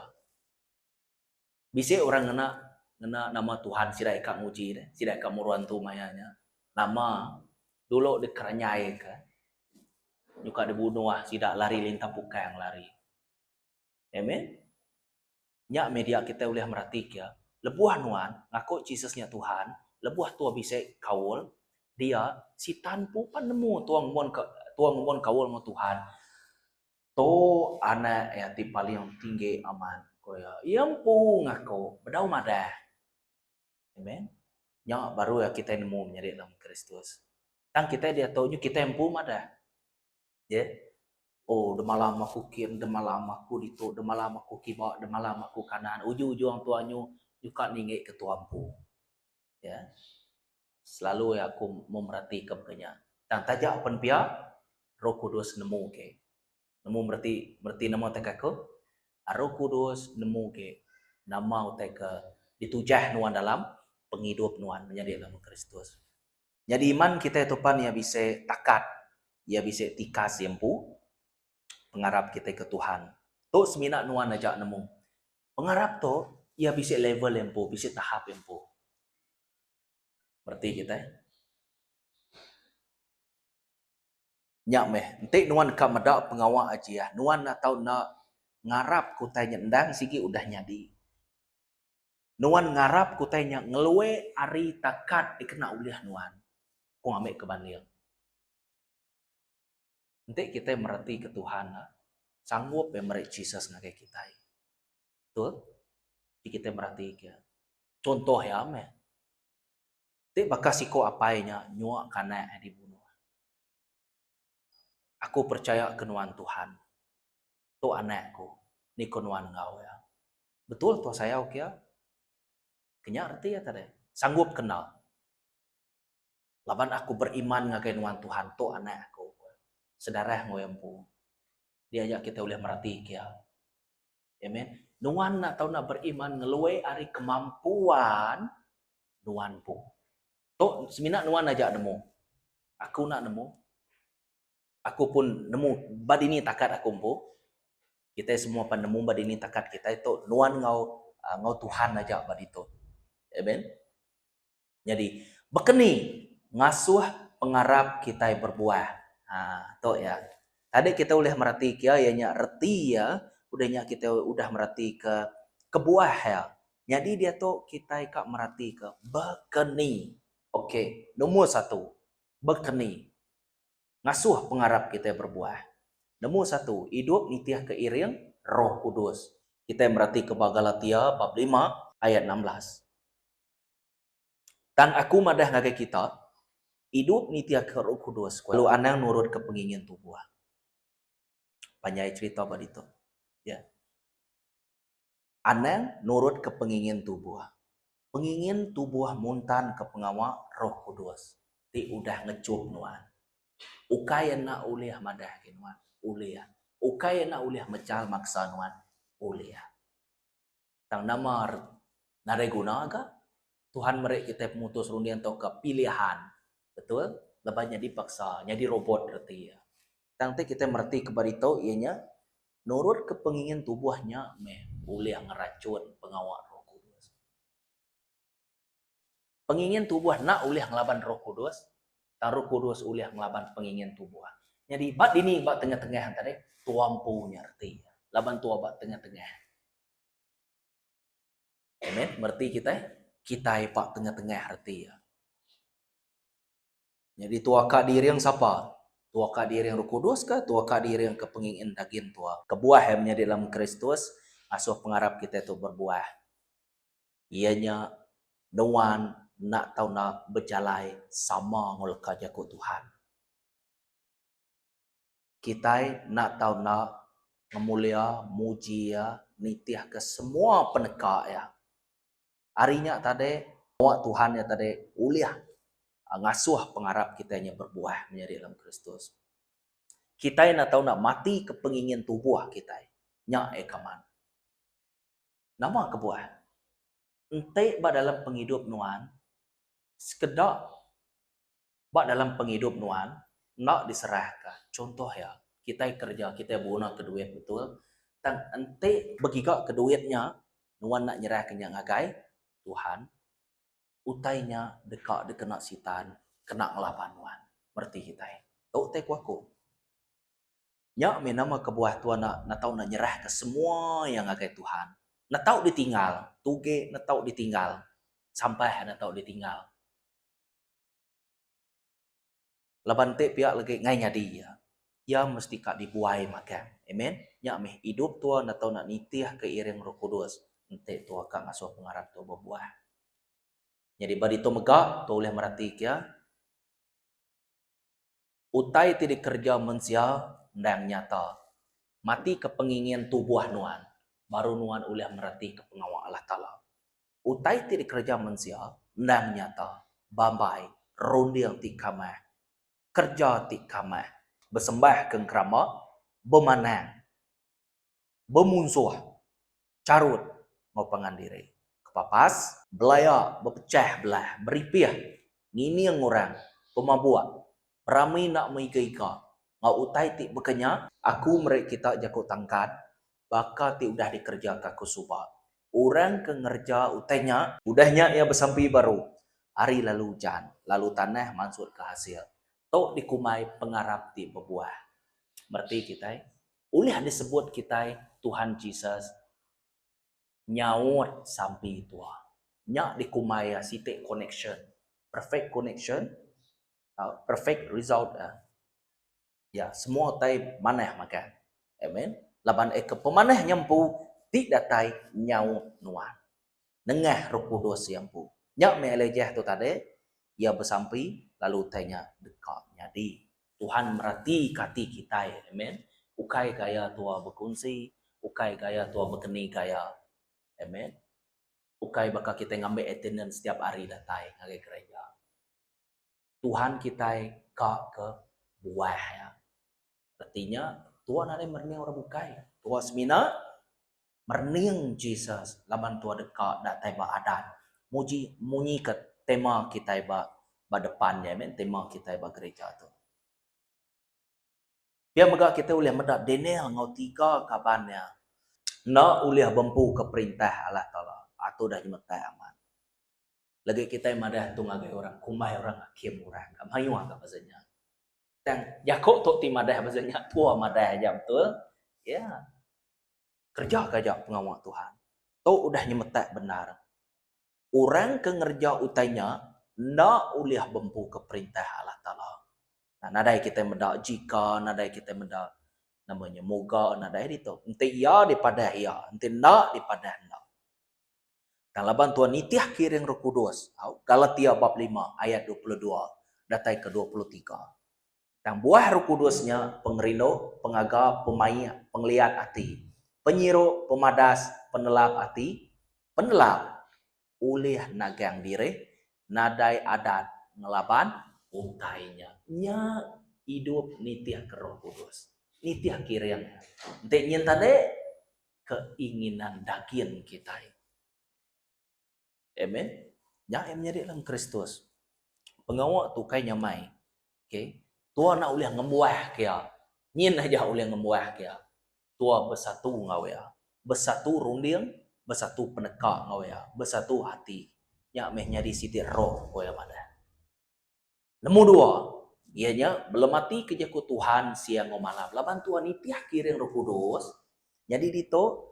Bisi orang ngena ngena nama Tuhan sida ika nguji deh, sida ika muru antu maya nya. Nama dulu dikeranyaika nyuka dibunuh sida lari lintah pukang lari. Amen. Nya meh dia kitai ulih meratika, lebuh nuan ngaku Jesus nya Tuhan, lebuh tua bisi kaul dia, Sitan pun pan nemu tua ngumonka tua ngumon kaul enggau Tuhan. Tu anak iya ti paling tinggi amat, ku iya. Iya empu ngaku bedau madah. Amen. Nya baru iya kitai nemu menyadi dalam Kristus. Tang kitai diatu nyu kitai empu madah. Ye. Oh, demalam aku kin, demalam aku ditu, demalam aku kiba, demalam aku kanan. Ujung-ujung tuan nyu nyuka ninggika tuan empu. Ya. Selalu ya aku memerati ke pekenya. Tang taja pen pia Roh Kudus nemu ke. Nemu mereti mereti nama utai ke aku? Roh Kudus nemu ke nama utai ke ditujah nuan dalam pengidup nuan menyadi anak Buah Kristus. Nyadi iman kitai tu pan iya bisi takat, iya bisi tikas iya empu pengarap kitai ke Tuhan. Tu semina nuan aja nemu. Pengarap tu iya bisi level empu, bisi tahap empu. Reti kitai. Nya meh, enti nuan ka meda pengawa Ajiah, nuan enda tau enda ngarap ke utai nya endang sigi udah nyadi. Nuan ngarap ke utai nya ngelue ari takat dikena ulih nuan. Ku ami ke banding. Enti kitai meretika Tuhan nya sanggup meh meri Jesus ngagai kitai. Betul? Ti kitai meretika contoh iya meh. Ti baka siko apai nya nyuaka anak iya dibunuh. Aku percayaka nuan Tuhan. Tu anak aku. Niko nuan enggau iya. Betul tau sayau ke iya. Kenya reti iya tadi. Sanggup kenal. Laban aku beriman ngagai nuan Tuhan tu anak aku, sedarah enggau empu. Dia aja kita ulih meratika iya. Amen. Nuan enda tau nak beriman ngelui ari kemampuan nuan empu. Tu semina nuan aja nemu. Aku enda nemu. Aku pun nemu ba dini takat aku empu. Kita semua pan nemu ba dini takat kita tu nuan enggau ah, enggau Tuhan aja ba ditu. Amen. Nyadi, bekeni ngasuh pengarap kitai berbuah? Ha, tu iya. Tadi kitai ulih meratika iya, iya nya reti iya. Udah nya kitai udah meratika kebuah iya. Nyadi diatu kitai ka meratika bekeni. Okey, nombor satu, bekeni ngasuh pengarap kitai berbuah. Nombor satu, idup nitihka iring Roh Kudus. Kitai meratika ba Galatia bab lima ayat enam belas. Tang aku madah ngagai kita, idup niti akan Roh Kudus kelalu anang nurutka pengingin tubuh. Panjai cherita ba ditu. Ya. Anang nurutka pengingin tubuh. Pengingin tubuh muntanka pengawa Roh Kudus ti udah ngechup nuan. Ukai enda ulih madahka nuan. Ulih. Ukai enda ulih mechal maksa nuan. Ulih. Tang nama nadai guna ga Tuhan meri kitai pemutus runding tauka pilihan betul lebuh nya dipaksa nyadi robot reti iya. Tang ti kitai mereti ke ba ditu iya nya nurutka pengingin tubuh nya meh ulih ngerachun pengawa Roh Kudus. Pengingin tubuh enda ulih ngelaban Roh Kudus, tang Roh Kudus ulih ngelaban pengingin tubuh. Nyadi, ba dini ba tengah-tengah enta deh? Tua empu nya reti iya. Laban tua ba tengah-tengah. Amen. Mereti kitai? Kitai ba tengah-tengah reti iya. Nyadi tua ka diring sapa? Tua ka diring Roh Kudus ke tua ka diring ke pengingin dagin tua? Kebuah ai menyadi dalam Kristus ngasuh pengarap kitai tu berbuah. Iya nya nuan enda tau enda bejalai sama enggau leka jaku Tuhan. Kitai enda tau enda ngemulia, muji Iya, nitihka semua peneka Iya. Ari nya tadi, pengawa Tuhan nya tadi ulih ngasuh pengarap kitai nya berbuah menyadi dalam Kristus. Kitai enda tau enda matika pengingin tubuh kitai. Nya ekaman. Nama kebuah? Enti ba dalam pengidup nuan, sekeda ba dalam pengidup nuan enda diserahka, chunto iya, kitai kereja, kitai beguna duit betul, tang enti begiga ke duit nya, nuan enda nyerahka nya ngagai Tuhan, utai nya deka dikena Sitan kena ngelaban nuan. Mereti kitai. Tu utai ku aku. Nya mih nama kebuah tua enda netau enda nyerahka semua iya ngagai Tuhan. Netau ditinggal, tuge netau ditinggal, sampah netau ditinggal. Laban enti pia legi ngai nyadi iya, iya mesti ka dibuai magang. Amen. Nya mih idup tua netau enda nitihka iring Roh Kudus enti tua ka ngasuh pengarap tua bebuah. Nyadi ba ditu mega tua ulih meratika iya. Utai ti dikereja mensia endang nyata. Matika pengingin tubuh nuan, baru nuan ulih meratika pengawa Allah Taala. Utai ti dikereja mensia endang nyata, bambai, runding ti kamah, kereja ti kamah, besembah ke ngeramba, bemanang. bemunsuh, charut enggau pangan diri. Kepapas. Belaya, bepechah belah, beripih, ngining orang, pemabuk, berami enda meiga-iga enggau utai ti baka nya. Aku meri kita jaku tangkan baka ti udah dikerejaka aku suba. Orang ke ngereja utai nya. Udah nya iya besampi baru. Hari lalu ujan, lalu tanah mansutka hasil. Tu dikumbai pengarap ti bebuah. Mereti kitai. Ulih disebut kitai Tuhan Jesus nyaut sampi tua. Nya dikumbai iya siti koneksyen, perfect koneksyen, perfect result. Iya semua utai manah magang. Amen. Laban iya ke pemanah nya empu ti datai nyaut nuan. nengah Roh Kudus iya empu. Nya meh Elijah tu tadi, iya besampi, lalu utai nya deka nyadi. Tuhan meratika ati kitai. Amen. Ukai gaya tua bekunsi, ukai gaya tua bekeni gaya. Amen. Ukai baka kitai ngambi attendance tiap hari datai ngagai gereja. Tuhan kitai ka ke buah iya. Reti nya, tua nadai merening orang bukai. Tua semina merening Jesus laban tua deka datai ba adat muji munyi ke tema kitai ba ba depan nya meh tema kitai ba gereja tu. Pia mega kitai ulih meda Daniel enggau tiga kaban iya enda ulih bempuka perintah Allah Taala atu udah nyemetak amat. Legi kitai madah tu ngagai orang kumbai orang akim orang ka mayuh ka pasal nya. Tang jaku tu ti madah pasal nya tua madah aja betul. Ya. Kerejaka aja pengawa Tuhan. Tu udah nyemetak bendar. orang ke ngereja utai nya enda ulih bempuka perintah Allah Taala. Nah nadai kitai meda jika nadai kitai meda nama nya moga nadai ditu. Enti iya dipadah iya, enti enda dipadah enda. Tang laban Tuhan nitih kiring Roh Kudus, au Galatia bab lima ayat dua puluh dua datai ke dua puluh tiga. Tang buah Roh Kudus nya pengerindu, pengaga, pemaik, pengeliat ati, penyiru, pemadas, penelap ati, penelap, ulih nagang diri, nadai adat ngelaban. Utai nya, nya idup nitihka Roh Kudus, nitihka iring. Enti nyin tadi, keinginan daging kitai. Amen. Nya iya menyadi dalam Kristus. Pengawa tu kai nyamai. Okay. Tua nak ulih ngembuah ke iya. Nyin aja ulih ngembuah ke iya. Tua bersatu ngau iya. Bersatu runding, bersatu peneka ngau iya. Bersatu hati. Nya meh nyadi siti roh ko iya madah. Nemu dua, iya nya belemati ke jaku Tuhan siang ngau malam. Laban tua nitih kiring Roh Kudus, nyadi ditu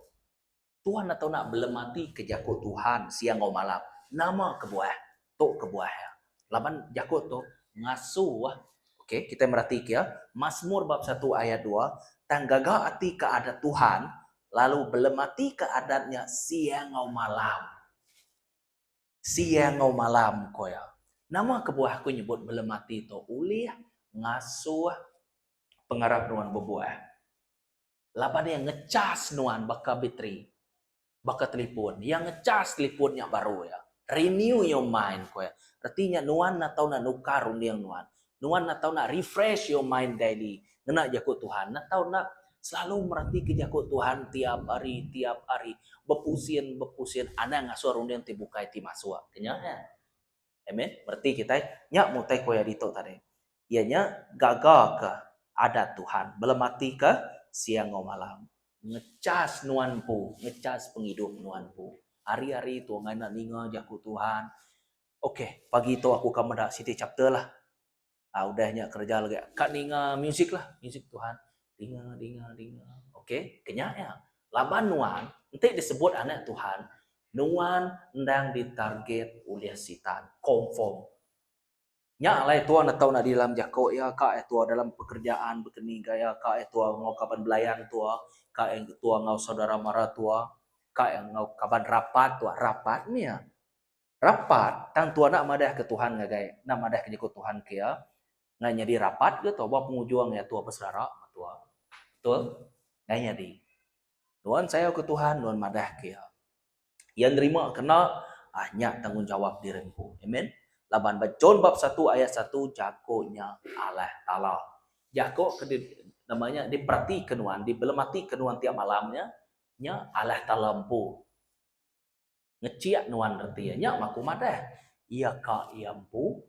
Tuan atau enda belem ati ke jaku Tuhan siang enggau malam, nama kebuah tu kebuah iya. Laban jaku tu ngasuh ok kitai meratika iya, Masmur bab satu ayat dua, Tang gaga ati ke adat Tuhan, lalu belem ati ke adat nya siang enggau malam. Siang enggau malam ko iya. Nama kebuah aku nyebut belem ati tu ulih ngasuh pengarap nuan bebuah? laban iya ngechas nuan baka bateri baka telefon. Iya ngechas telefon nya baru iya. Renew your mind, ku iya. Reti nya nuan enda tau nak nukar runding nuan. Nuan enda tau nak refresh your mind daily ngena jaku Tuhan. Enda tau nak selalu meratika jaku Tuhan tiap hari, tiap hari. Bepusin, bepusin. Anang ngasuh runding ti bukai ti masuk. Ku nya iya. Amen. Mereti kitai nya mung utai ku iya ditu tadi. Iya nya gaga ke adat Tuhan belemati ke siang enggau malam. Ngechas nuan empu, ngechas pengidup nuan empu. Hari-hari tu ngaina ninga jaku Tuhan. Okey, pagi tu aku ka meda siti chapter lah. Ah udah nya kereja lagi ka ninga music lah music Tuhan dinga dinga dinga ok kenya nya laban nuan enti disebut anak Tuhan nuan endang di target ulih sitan confirm nya alai tua neto adi dalam jako iya ka iya tua dalam pekerjaan bekeni ga iya ka iya tua enggau kaban belayan tua ka iya tua enggau saudara mara tua ka iya enggau kaban rapat tua rapat mih iya. Rapat, tang tua enda madahka Tuhan ngagai enda madahka nyekut Tuhan ke iya ngai nyadi rapat ke tua ba pengujung iya tua beselara ba tua. Betul? Ngai nyadi. Nuan sayau ke Tuhan nuan madah ke iya. Iya nerima ke enda ah nya tanggungjawap diri empu. Amen. Laban ba John bab satu ayat satu jaku nya alah Taala. Jaku ke di nama nya diperatika nuan, dibelematika nuan tiap malam nya nya alah Taala empu. Ngechik nuan reti iya nya baku madah iya ka iya empu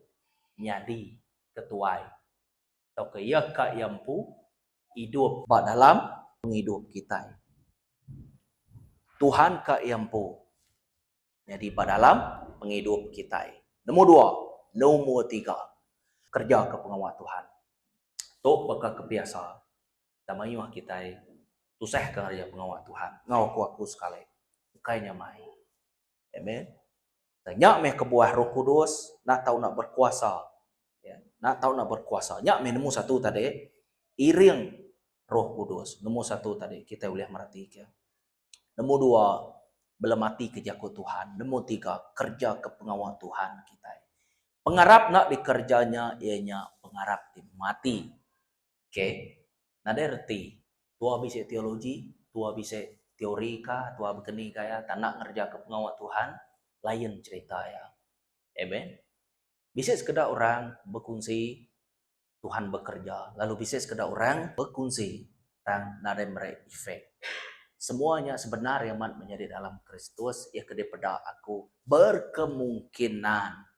nyadi ketuai tauka iya ka iya empu idup ba dalam pengidup kitai. Tuhan ka iya empu nyadi ba dalam pengidup kitai. Nemu dua. Nemu tiga. Kerejaka pengawa Tuhan tu baka kebiasa. da mayuh kitai tusah kereja pengawa Tuhan enggau ku aku sekali ukai nyamai. Amen. Dan nya meh kebuah Roh Kudus enda tau enda berkuasa. Ya, enda tau enda berkuasa. Nya meh nemu satu tadi iring Roh Kudus. Nemu satu tadi kitai ulih meratika. Nemu dua belemati ke jaku Tuhan. Nemu tiga kerja ke pengawa Tuhan kitai. Pengarap enda dikerja nya iya nya pengarap ti mati. K, nadai reti tuah bisi teologi, tuah bisi teori ka tuah bekeni ka iya tandak ngerejaka pengawa Tuhan, lain cherita iya. Amen. Bisi sekeda orang bekunsi Tuhan bekereja lalu bisi sekeda orang bekunsi tang nadai meri efek. Semua nya sebenar iya amat menyadi dalam Kristus iya ke dipeda aku berkemungkinan.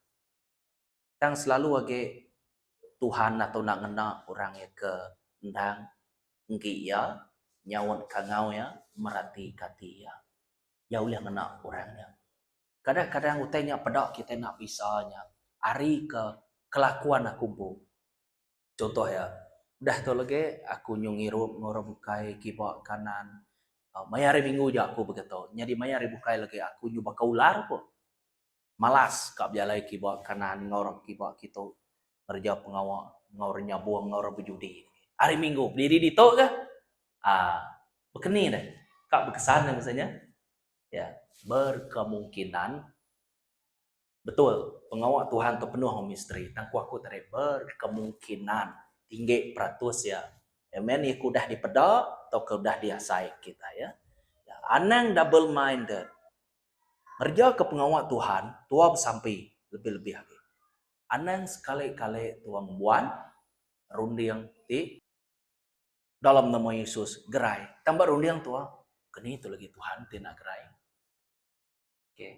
Tang selalu agi Tuhan ato enda ngena orang iya ke endang enggi iya, nyaut ka enggau iya, merati ka ati iya. Iya ulih ngena orang iya. Kadang kadang utai nya peda kitai enda bisa nya ari ke kelakuan aku empu. Contoh iya, udah tu lagi aku nyuh ngirup ngurup ukai kiba kanan maya hari minggu ja aku begitu. Nyadi maya hari bukai lagi aku nyuh baka ular ko. Malas ka bejalai kiba kanan enggau orang kiba kitu ngereja pengawa enggau orang nyabung enggau orang bejudi. Hari minggu bediri ditu ga aa bekeni deh ka bekesan deh masa nya ya berkemungkinan betul pengawa Tuhan tu penuh enggau misteri tang ku aku tadi berkemungkinan tinggi peratus iya amen iya ke udah dipeda tauka udah diasai kitai ya. Anang double minded Ngerejaka pengawa Tuhan tua besampi lebih-lebih agi. Anang sekali-kali tua ngembuan runding ti dalam nama Yesus gerai. Tang ba runding tua, keni tu lagi Tuhan ti enda gerai. Okey.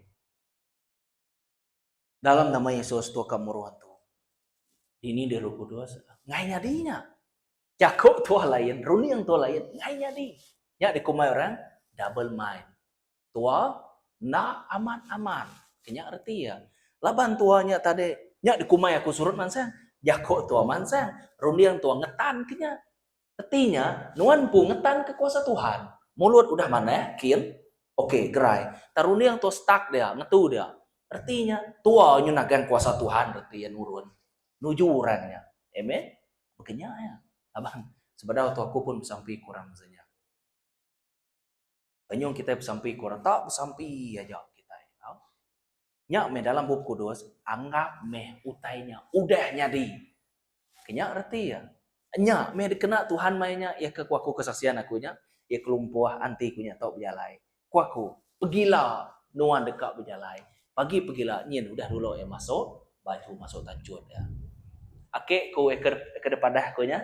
Dalam nama Yesus tua ka muruh tu. Dini deh Roh Kudus? Ngai nyadi nya. Jako tua lain, runing tua lain, ngai nyadi. Nya dikumbai orang double mind. Tua enda amat-amat. Kenya reti iya. Laban tua nya tadi, nya dikumbai aku surut mansang. Jako tua mansang, runing tua ngetan kenya. Reti nya, nuan empu ngetanka kuasa Tuhan. Mulut udah manah, kin? Okey, gerai. Tang runding tu stuck dia, ngetu dia. Reti nya, tua nyunahgang kuasa Tuhan reti iya nurun nuju orang nya. Amen? Baka nya iya. Laban, sebedau tu aku pun besampi kurang beza nya. Penyung kitai besampi ke orang tak besampi aja kitai. Ha? Nya meh dalam bup kudus anggap meh utai nya udah nyadi. Kenya reti ya. Nya meh dikena Tuhan mai nya ya ke kuaku kesaksian aku nya ya kelumpuh anti ku nya tau bejalai. Kuaku pegila nuan deka bejalai. Pagi pegila nyin udah dulu ya masuk baju masuk tanchut ya. Ake ku ya ke, ke depadah ku nya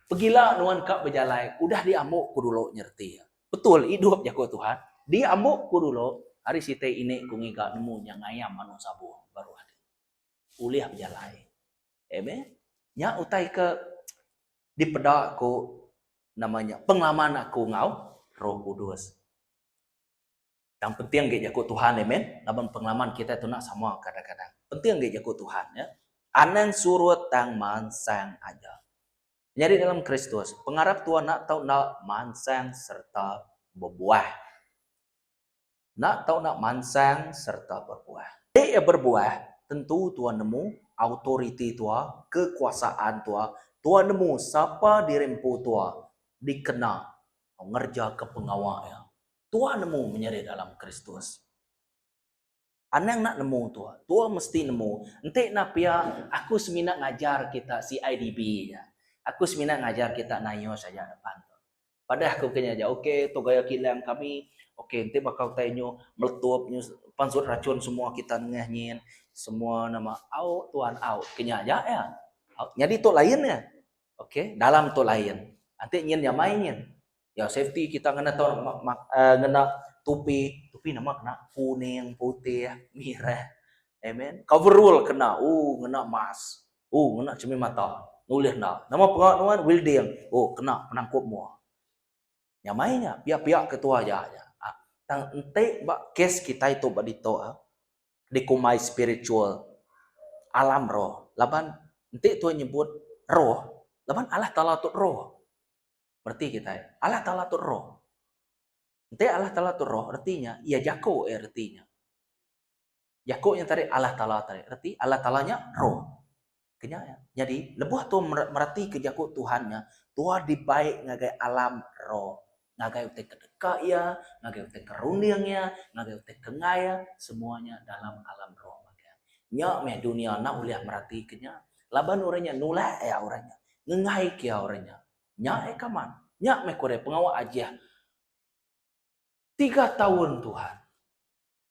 Pegila nuan ka bejalai udah diambu ku dulu nyereti iya. Betul idup jaku Tuhan, diambu ku dulu, ari siti ini ku ngiga nemu nya ngayam anu sabung baru agi ulih bejalai. Amen. Nya utai ke dipeda ku nama nya pengelaman aku enggau Roh Kudus. Tang penting agi jaku Tuhan amen laban pengalaman kitai tu nak sama kadang-kadang. Penting agi jaku Tuhan ya. Anang surut tang mansang aja. Nyadi dalam Kristus, pengarap tua nak tau nak mansang serta berbuah. Nak tau nak mansang serta berbuah. Ti ya berbuah, tentu tua nemu autoriti tua, kekuasaan tua, tua nemu sapa diri empu tua dikena ngerjaka pengawa iya. Tua nemu menyerit alam Kristus. Anang enda nemu tua. Tua mesti nemu. Enti enda pia, aku semina ngajar kita CIDB aja. Aku semina ngajar kita nayus aja depan tu. Padah aku ke nya aja, ok tu gaya kilang kami. Ok enti baka utai nyu meletup nyu pan sut rachun semua kita nengah nyin. Semua nama au tuan au. Ke nya aja iya. Nyadi tu lain iya. Ok dalam tu lain. Enti nyin nyamai nyin. Ya safety kita ngena tau ngena tupi, tupi nama kena kuning, putih, mirah. Amen. Coverall kena, oh ngena mask. Oh ngena cermin mata. Nulih enda. Nama pera nuan welding. Oh kena penangkup mua. Nyamai nya pia-pia ketua aja nya. Ah, tang enti ba kes kitai tu ba ditu ah, dikumbai spiritual alam roh laban enti tuan nyebut roh laban Allah Taala tu roh. Reti kitai, Allah Taala tu roh. Enti Allah Taala tu roh, reti nya iya jaku iya reti nya. Jaku nya tadi Allah Taala tadi. Reti Allah Taala nya roh. Kenya iya. Nyadi lebuh tu meretika jaku Tuhan nya, tuah dibai ngagai alam roh. Ngagai utai ke deka iya, ngagai utai ke runding iya, ngagai utai ke enggai iya, semua nya dalam alam roh. Nya meh dunya enda ulih meratika nya. Laban orang nya nulak iya orang nya. Ngengai ke iya orang nya. Nya ai kaman. Nya meh ku ari pengawa Ajih tiga taun Tuhan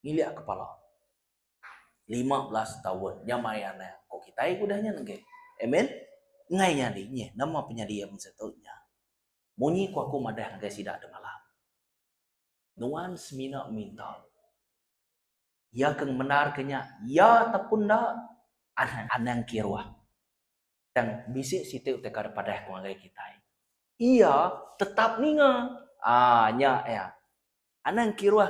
ngilik kepala. Lima belas taun nya maya ne ko kitai ke udah nyen age. Amen. Ngai nyadi nyeh nama penyedia mung situ nya. Munyi ku aku madah ngagai sida demalam. Nuan semina minta. Iya ke ngemendar ke nya, iya ataupun enda, anang anang kiruh. Tang bisi siti utai kada padah ke ngagai kitai. Iya tetap ninga. Ah nya iya. Anang kiruh.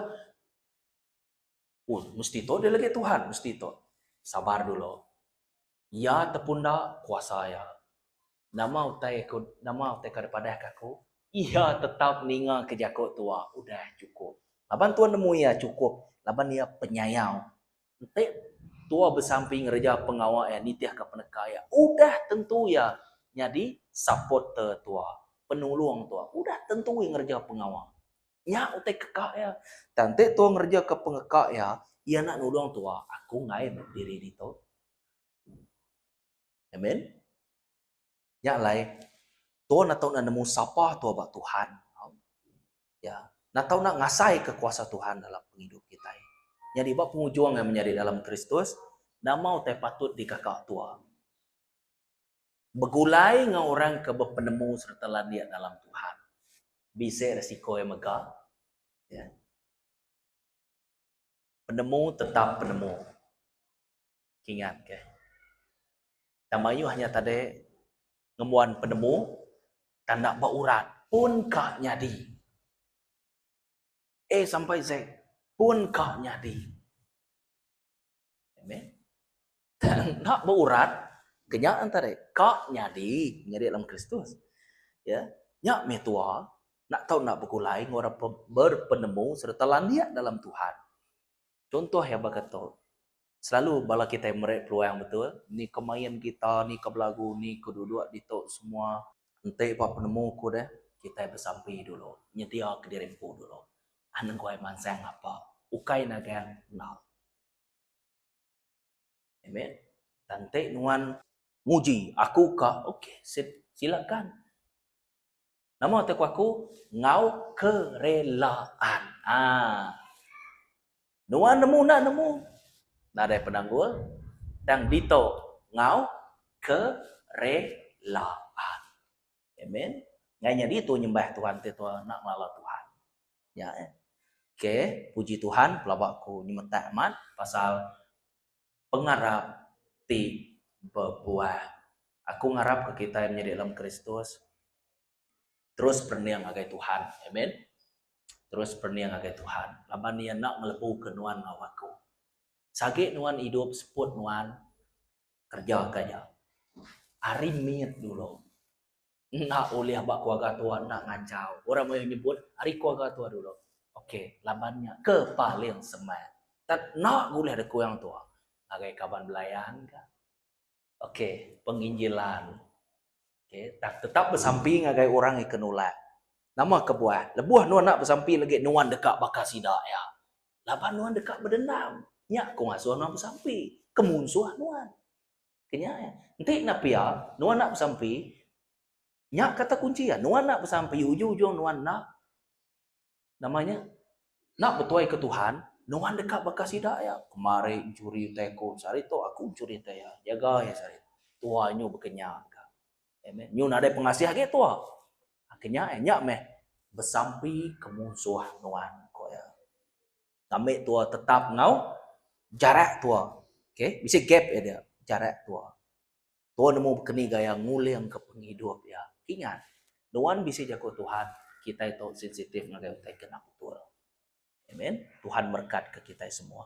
Oh, mesti tu dia lagi Tuhan, mesti tu. Sabar dulu. Iya tepunda kuasa iya. Nama utai aku, nama utai kau dipadah ke aku? Iya tetap ninga ke jaku tua, udah cukup. Laban Tuhan nemu iya cukup, laban iya penyayau. Enti tua besampi ngereja pengawa iya, nitihka peneka iya, udah tentu iya nyadi supporter tua, penulung tua. Udah tentu iya ngereja pengawa. Nya utai keka iya. Tang enti tuan ngerejeka pengeka iya, iya enda nulung tuan, aku enggai meh diri ditu. Amen. Nya alai tuan enda tau enda nemu sapa tuan ba Tuhan. Ya, enda tau enda ngasaika kuasa Tuhan dalam pengidup kitai. Nyadi ba pengujung iya menyadi dalam Kristus, nama utai patut dikeka tuan? Begulai enggau orang ke bepenemu sereta landik dalam Tuhan. Bisi resiko iya mega. Ya. Penemu tetap penemu. Kingat ke. Dan mayuh nya tadi ngembuan penemu tanda ba urat pun ka nyadi. A sampai Z pun ka nyadi. Amen. Enda berurat ke nya antara ka nyadi nyadi dalam Kristus. Ya. Nya meh tua nak tau nak begulai enggau orang berpenemu serta landik dalam Tuhan. Contoh yang berkata, selalu bala kita meri peluang betul, ni ke main gitar, ni ke belagu, ni ke duduk di tok semua. Enti ba penemu ku deh, kita bersampi dulu, nyedia ke diri empu dulu. Aneguai mansang ngapa ukai nagang enggau. Amen tang ti nuan. Nguji aku ka ok sip silakan nama te ku aku enggau kerelaan aa nuan nemu enda nemu nadai penanggul tang ditok enggau kerelaan. Amen. Ngai nyadi tu nyembah Tuhan ti tua nak ngelala Tuhan. Ya. Eh. Okey, puji Tuhan pelaba aku nyemetak amat pasal pengarap ti bebuah. Aku ngarap ke kita yang menjadi dalam Kristus terus pening ngagai Tuhan. Amen. Terus pening ngagai Tuhan. Laban ia nak ngelebu ke nuan ngau aku. Sagi nuan hidup seput nuan Kerja ka nya. Ari mit dulu. Enda ulih ba keluarga tua enda ngachau. Orang maya nyebut ari keluarga tua dulu. Ok laban nya ke paling semak. Tan enda ulih deka orang tua. Ngagai kaban belayan ka. Ok penginjilan. Ok tang tetap besampi ngagai orang ika nulak. Nama kebuah. Lebuh nuan enda besampi lagi nuan deka baka sida iya. Laban nuan deka bedendam. Nya aku ngasuh nuan besampi ke munsuh nuan. Kenya iya. Enti enda pia, nuan enda besampi, nya kata kunci iya, nuan enda besampi, ujung-ujung nuan enda, nama nya, enda betuai ke Tuhan, nuan deka baka sida iya. Kemari mencuri utai aku, sehari tu aku mencuri utai iya. Jaga iya sehari. Tuai nyu baka nya. Amen. Nyu nadai pengasih agi tua. Ha, kenya eh, nya meh besampi ke munsuh nuan ko ya. Ambil tua tetap ngau jarak tua. Okey, bisi gap ya dia, jarak tua. Tua nemu keni gaya nguling ke pengidup ya. Ingat, nuan bisi jaku Tuhan, kita itu sensitif ngagai utai kena betul. Amen. Tuhan merkat ke kita semua.